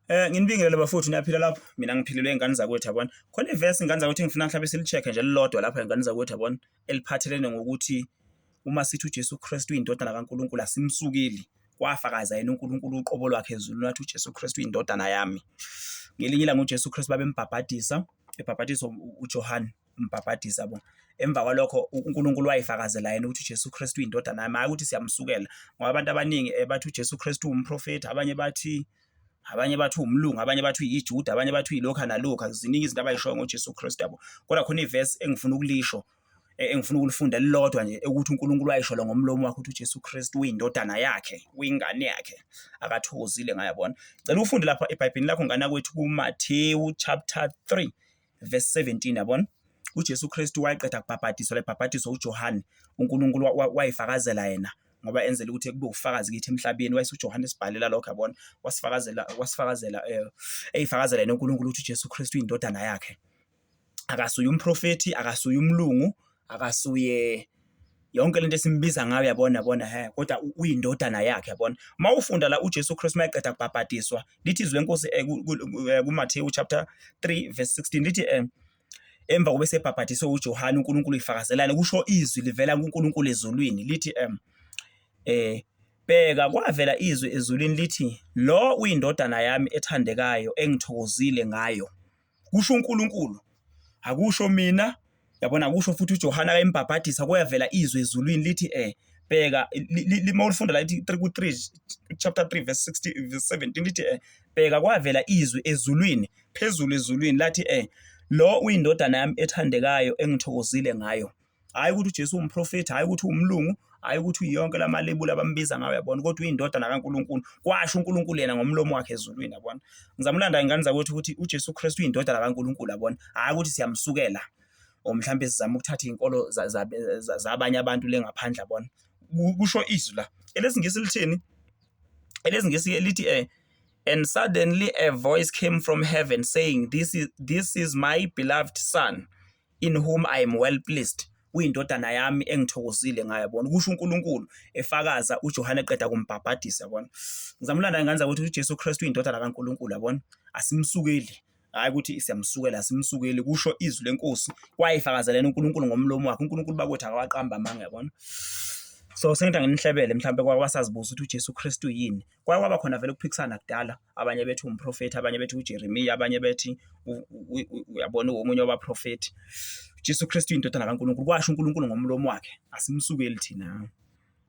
Eh nginibingelele bafowethu niyaphila lapho mina ngiphilelwe ingane zakwethu yabona khona ivesi ingane zakwethu ngifuna mhlawumbe silicheck nje lilodwa lapha ingane zakwethu yabona eliphathelene ngokuthi uma sithi uJesu Kristu indodana kaNkuluNkulu asimsukeli wafakaza yena uNkulunkulu uqobo lwakhe ezulu nathi uJesu Kristu indodana yami ngelinye ilanga uJesu Kristu babembhabhadisa ebhabhadisa uJohane umbhabhadisa bo emva kwalokho uNkulunkulu wayifakazela yena ukuthi uJesu Kristu uyindodana yakhe hayi ukuthi siyamsukela ngoba abantu abaningi eh, bathi uJesu Kristu umprofeti abanye bathi abanye bathi umlungu abanye bathi uyijuda abanye bathi uyilokha nalokha ziningi izinto abayishoyo ngoJesu Kristu yabo kodwa khona ivesi engifuna ukulisho eh, engifuna ukulifunda lilodwa nje ukuthi uNkulunkulu wayisholo ngomlomo wakhe ukuthi uJesu Kristu uyindodana yakhe uyingane yakhe akathokozile ngayabona cela ufunde lapha eBhayibhelini lakho ngana kwethu kuMathewu chapter 3 verse 17 yabona uJesu Kristu wayeqeda kubhabhadiswa lebhabhadiswa uJohane uNkulunkulu wayifakazela yena ngoba enzela ukuthi kube ufakazi kithi emhlabeni wayise uJohane esibhalela lokho yabona wasifakazela wasifakazela eh, eyifakazela yena uNkulunkulu ukuthi uJesu Kristu indodana yakhe akasuye umprofeti akasuye umlungu akasuye yonke lento esimbiza ngayo yabona bona he kodwa uyindodana yakhe yabona uma ufunda la uJesu Kristu mayeqeda kubhabhadiswa lithi izwi lenkosi eh, eh, kuMathewu chapter 3 verse 16 lithi eh, emva kobe sebhabhadiswe uJohane uNkulunkulu ifakazelana kusho izwi livela kuNkulunkulu ezulwini lithi em eh bheka kwavela izwi ezulwini lithi lo uyindodana yami ethandekayo engithokozile ngayo kusho uNkulunkulu akusho mina yabona kusho futhi uJohane akayembhabhadisa kuyavela izwi ezulwini lithi eh bheka lima ulifunda la lithi 3 ku 3 chapter 3 verse 60 verse 17 lithi eh bheka kwavela izwi ezulwini phezulu ezulwini lathi eh lo uyindodana yami ethandekayo engithokozile ngayo hhayi ukuthi uJesu uwumprofethi hhayi ukuthi uwumlungu hhayi ukuthi uyonke la malebula abambiza ngayo yabona kodwa uyindodana kaNkulunkulu kwasho uNkulunkulu yena ngomlomo wakhe ezulwini yabona ngizama ulanda ingane zakwethu ukuthi uJesu Kristu uyindodana kaNkulunkulu yabona hhayi ukuthi siyamsukela or mhlawumbe sizama ukuthatha iy'nkolo zabanye abantu le ngaphandle yabona kusho izwi la elesingisi lithini elesingisi lithi um and suddenly a voice came from heaven saying this is, this is my beloved son in whom I am well pleased, uyindodana yami engithokozile ngayo yabona kusho uNkulunkulu efakaza uJohane eqeda kumbhabhadisa yabona ngizama ulanda ingane zakwethu uJesu Kristu uyindodana kaNkulunkulu yabona asimsukeli hayi ukuthi siyamsukela simsukeli kusho izwi lenkosi kwayifakazelena uNkulunkulu ngomlomo wakhe uNkulunkulu bakwethu akawaqamba amanga yabona so sengithi anginihlebele mhlawumbe kwabasazibuza ukuthi uJesu Kristu yini Kwake kwaba khona vele ukuphikisana kudala, abanye bethi umprofethi, abanye bethi uJeremiya, abanye bethi uyabona omunye wabaprofethi. Jesu Kristu indodana kaNkulunkulu, kwasho uNkulunkulu ngomlomo wakhe, asimsukeli thina.